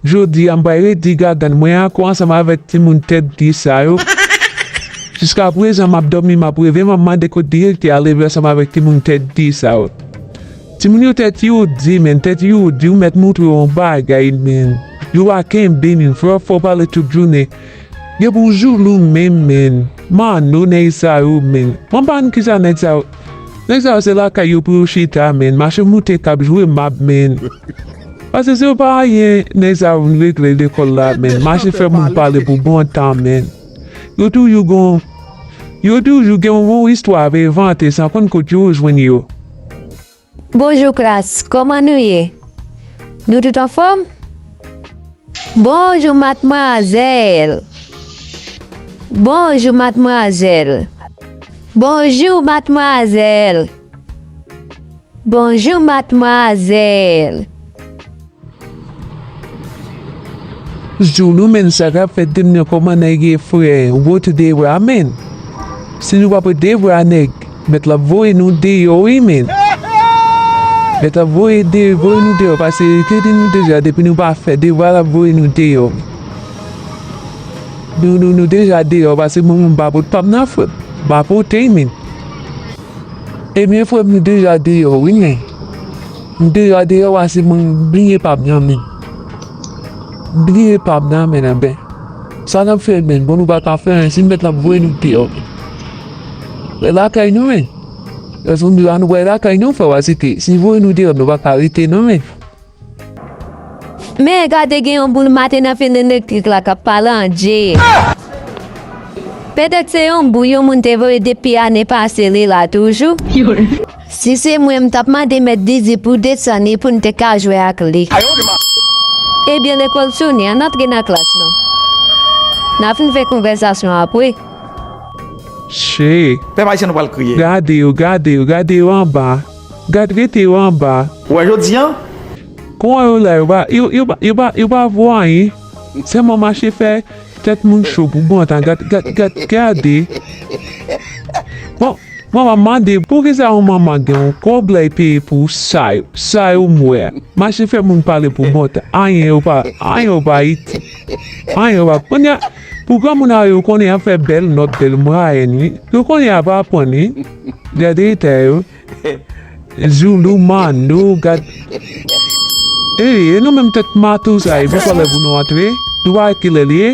Jodi a m pral redi gagann mwen ako ansanm avèk timoun tèt di sa yo. Jiska prezan m ap dòmi m ap reve m ap mande kot direktè a leve ansanm avèk timoun tèt di sa yo. Timoun yo tèt yo di menn, tèt yo di ou mèt montre yo yon bagay menn. Yo pa kenbe menm, fè w fè w pale tout jounen. Gen pou jou nou menm menn. Manno nèg sa yo menn. Mwen pa konn kisa nèg sa yo Nèg sa yo se lakay yo pou yo chita menn mache moute kap jwe mab menn Pase se yo pa anyen nèg sa yo vin regle lekòl la menn mache fè moun pale pou bon tan menn Yo toujou gon Yo toujou gen yon istwa yo vante san konn kot yo jwenn yo. Bonjou klas, kòman nou ye? Nou tout anfòm? Bonjou matmwazèl! Bonjou matmwazèl! Bonjou matmwazèl! Bonjou matmwazèl! Jou nou menn sa kap fèt dim nan kòman nèg ye frè rete deyò a menn si nou pa prete deyò a nèg mèt la ap voye nou deyò wi menn mèt la ap voye nou deyò pase li te di nou deja depi nou pa fè devwa lap voye nou deyò nou deja deyò pase mwen menm pa pot pam nan frè m pa pote men ebyen frè m nou deja deyò wi menn. M deyò deyò wa se mwen bliye pam nan men m bliye pam nan men nan ben sa nap fè men bon nou pa ka fè anyen si mèt la voye nou deyò men wè lakay nou men paske m di wa nou pral lakay nou fè wa se ke si voye nou deyò nou pa ka rete nan men. Men gade gen yon boul mate nan fil elektrik la kap pale an Djee. Petèt se yon boul yon moun te voye depi ane pase li la toujou. Si se mwen m tap mande mèt Didi pou desane pou n te ka jwe ak li. Ebyen lekòl soni ann antre nan klas nou. N a fin fè konvèsasyon apre. Che. Pèp ayisyen nou pral kriye. Gade yo gade yo gade yo anba gad rete yo anba. Wè jodi an. Kouman yo la yo pa yo pa yo pa yo pa vo anyen. Sèlman mache fè tèt moun cho pou bon tan gad gad gad gade bon mwen wap mande poukisa yon manman gen yon kob lay peye pou sa yo sa yo m wè mache fè moun pale pou bon tan anyen yo pa anyen yo pa itil anyen yo pa kounya pou granmoun a yo konnen yap fè bèl nòt bèl mwayenn wi yo konnen yap aprann wi gade eta yo. Zulu man nou gad Ey e nou menm tèt mato sa e poko lè pou nou antre nou pa wè kilè liye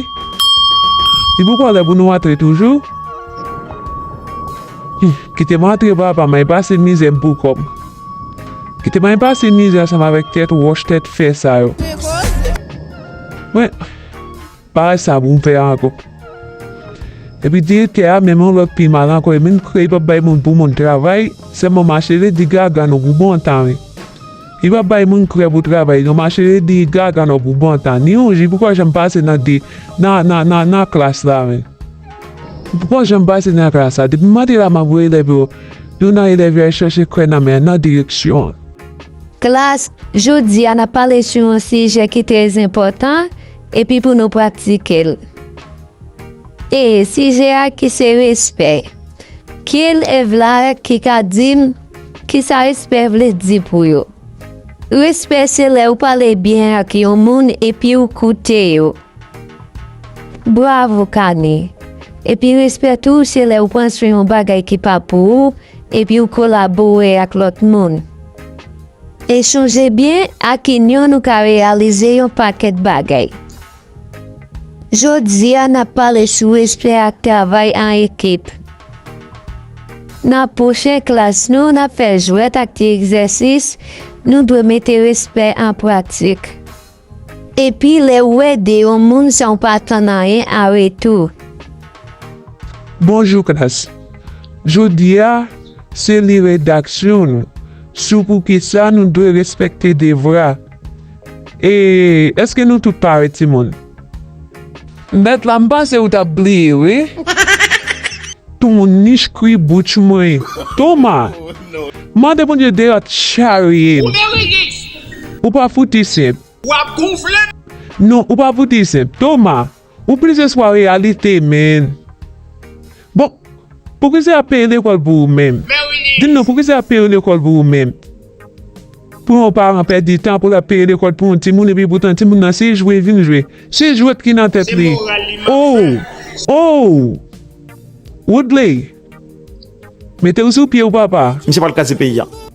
li poko lè pou nou antre toujou kite m antre papa may pase mizè m pou kòm kite may pase mizè ansanm avèk tèt wòch tèt fè sa yo mwen. Bagay sa bon fè ankò. Epi direktè a menm an lòt pi mal ankò e menm kre li pap bay moun pou moun travay sèlman mache ledi gaga nan pou bantanen. Li pap bay moun kre pou travay non mache ledi gaga nan pou bantan ni yon jou poko janm pase nan de nan nan nan nan klas la menm. Li poko janm pase nan klas la depi mate la map wè elèv yo yon nan elèv yo al chache kre nan men nan direksyon an. Klas, Jodi a nap pale sou yon sijè ki trè zenpòtan Epi pou nou pratike l. E sijè a ki se respè. Ki elèv la ki ka di m kisa respè vle di pou yo? Respè se lè ou pale byen ak yon moun epi ou koute yo. Bravo Kane. Epi respè tou se lè ou pran swen yon bagay ki pa pou ou epi ou kolabore ak lòt moun. E chonje byen, ak inyon nou ka reyalize yon pakèt bagay. Jodi a, n ap pale sou respè ak travay an ekip. Nan pwochen klas nou, n ap fè jwèt ak ti egzèsis, nou dwe mete respè an pratik. Epi lè ou ede yon moun san ou pa atann anyen an retou. Bonjou klas. Jodi a, se li redaksyon nou sou poukisa nou dwe respekte devra. E, èske nou tout pare timoun? Mèt la m panse ou tap bliye wi. Ton niche kwi bouch mwen toma. Mande bondye deyò charye m. Ou pa fouti senp. Non ou pa fouti senp. Toma ou plis eswa reyalite menn. Bon! Pwofesè ap peye lekòl pou ou menm. Di m non, pwofesè ap peye lekòl pou ou menm? Pou yon paran pèdi tan pou l ap peye lekòl pou yon timoun epi poutan timoun nan se jwe vin jwe. Se jwèt ki nan tèt li. Ow! Ow! Woodley! Mete w sou pye w papa! Misye pral kraze peyi a.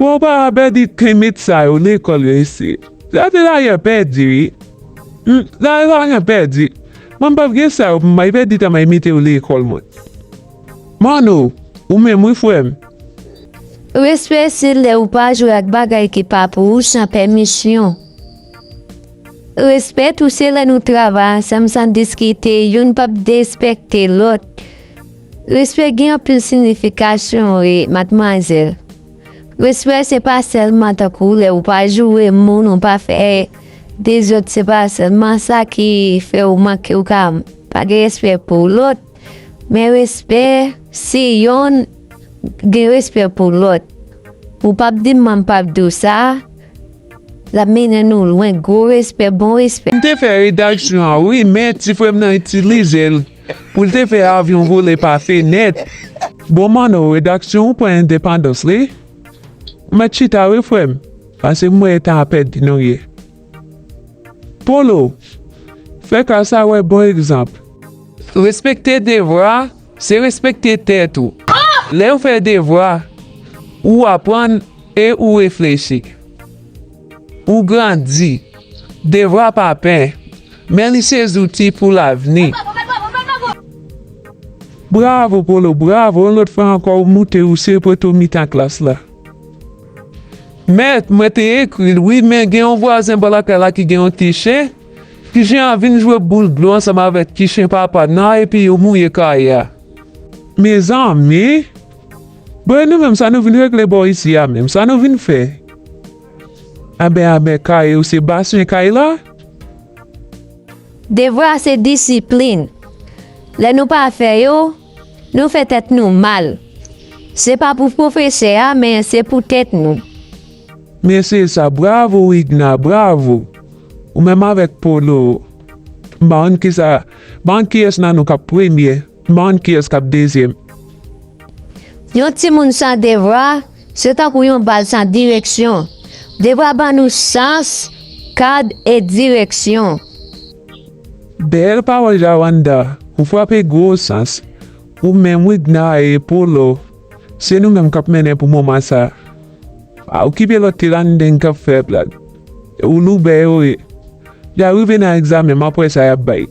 Bon pa pèdi timid sa yo lekòl yo isit la te lagen pèdi wi m la te lagen pèdi mwen m pap gen sa yo pou m bay pèdi ta may metew lekòl mwen Manno ou menm wi frè m. Respè se lè ou pa jwe ak bagay ki pa pou ou san pèmisyon. Respè tou se lè nou travay ansanm san diskite youn pap derespekte lòt. Respè gen anpil signification wi mademoiselle. Respè se pa sèlman tankou lè ou pa joure moun ou pa fè dezòd se pa sèlman sa ki fè ou manke ou ka pa gen respè pou lòt men respè si yonn gen respè pou lòt ou pap di m m pap di w sa lap mennen nou lwen gwo respè bon respè. M te fè redaksyon an wi men ti frè m nan itilize l. Pou l te fè avyon vole pase nèt. Bon Manno redaksyon ou pran endepandans li? Ou mèt chita wi frè m pase m wè tan ap pèdi nou ye. Polo, fè klas la wè bon egzanp. Respekte devwa se respekte tèt ou. Lè ou fè devwa, ou aprann e ou reflechi. Ou grandi. Devwa pa pen. Men li se zouti pou lavni. Bravo Polo, bravo yon lòt fwa ankò ou moute ou se poto mitan klas la. Mèt, mwen te ekri l wi men gen yon vwazen bò lakay la ki gen yon ti chen, ti chen an vin jwe boul dlo ansanm avèk ti chen papa nan epi yo mouye kay a. Mezanmi! Bon e nou menm sa nou vin regle bò isi a menm, sa nou vin fè? Anben anben kay ou se baswen kay la? Devwa se disiplin. Lè nou pa fè yo, nou fè tèt nou mal. Se pa pou pwofesè a men se pou tèt nou. Men se sa bravo widna bravo ou menm avèk polo bann kisa bann kiyès nan nou kap premye. M'en kiyes kap dezyem. Yon timoun san devwa se tankou yon bal san direksyon. Devwa ban nou sans, kad e direksyon. Bèl pawòl Jawanda, ou frape gwo sans. Ou menm Widna e Polo, se nou menm kap mennen pou moman sa. Pa okipe lòt tiranndengue kap fè blag. Ou loubè yo ye. Ya rive nan egzamen m aprè sa yap bay.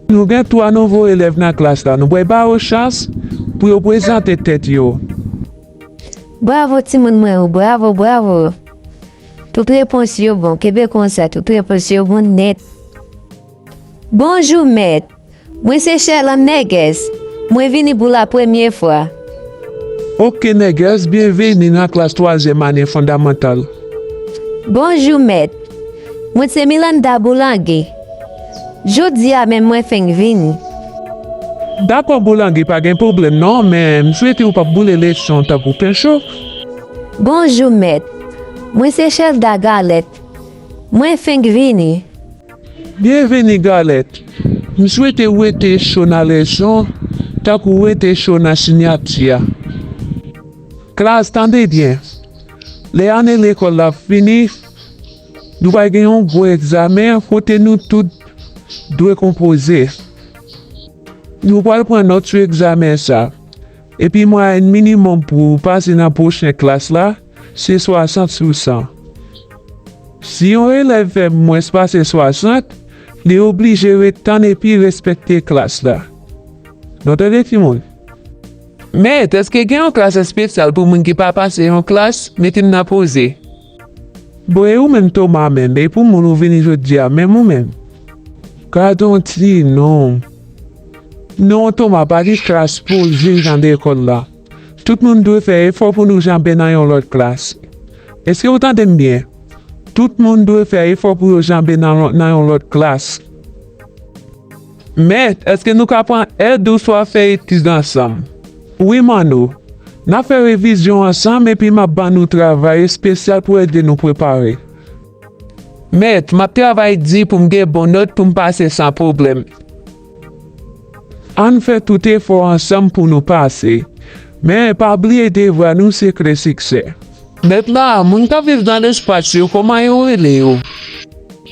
Nou gen 3 nouvo elèv nan klas la, nou pral ba yo chans pou yo prezante tèt yo. Bravo timoun mwen yo, bravo, bravo! Tout repons yo bon, kenbe konsa, tout repons yo bon nèt. Bonjou mèt, mwen se Sherlande Nègès, mwen vini pou la premye fwa. Ok Nègès, byenvini nan klas twazyèm ane fondamantal. Bonjou mèt, mwen se Milanda Boulanger. Jodi a menm mwen fenk vini. Dakò boulange pa gen pwoblèm non men m swete ou pa boule lechon tankou penchou. Bonjou mèt, mwen se Chelda Galèt, mwen fenk vini. Byenvini Galèt, m swete ou rete cho nan lechon tankou ou rete cho nan sinyati a. Klas tande byen, lè ane lekòl la ap fini. Nou pral gen yon gwo egzamen kote nou tout dwe konpoze. Nou pral pran nòt sou egzamen sa a, epi mwayèn minimòm pou ou pase nan pwochen klas la se 60 sou 100. Si yon elèv fè mwens pase 60, li oblije ret tann epi respekte klas la. Nou tande timoun? Mèt, èske gen yon klas espesyal pou moun ki pa pase yon klas? Mete m nan poze. Bon e ou menm Thomas menm e pou moun ou vini jodia menm ou menm gadon ti non non Thomas pa gen klas poul viv nan lekòl la tout moun dwe fè efò pou nou janbe nan yon lòt klas eske ou tandem byen tout moun dwe fè efò pou yo janbe nan yon lòt klas. Mèt, èske nou ka pran èd ou swa fè etid ansanm? Wi, Manno. N ap fè revizyon ansanm epi m ap ban nou travay espesyal pou ede nou prepare. Mèt, M ap travay di pou m gen bon nòt pou m pase san pwoblèm. Ann fè tout efò ansanm pou nou pase. Men, pa bliye devwa nou se kle siksè. Mèt la, Moun k ap viv nan lespas yo, kòman yo rele yo?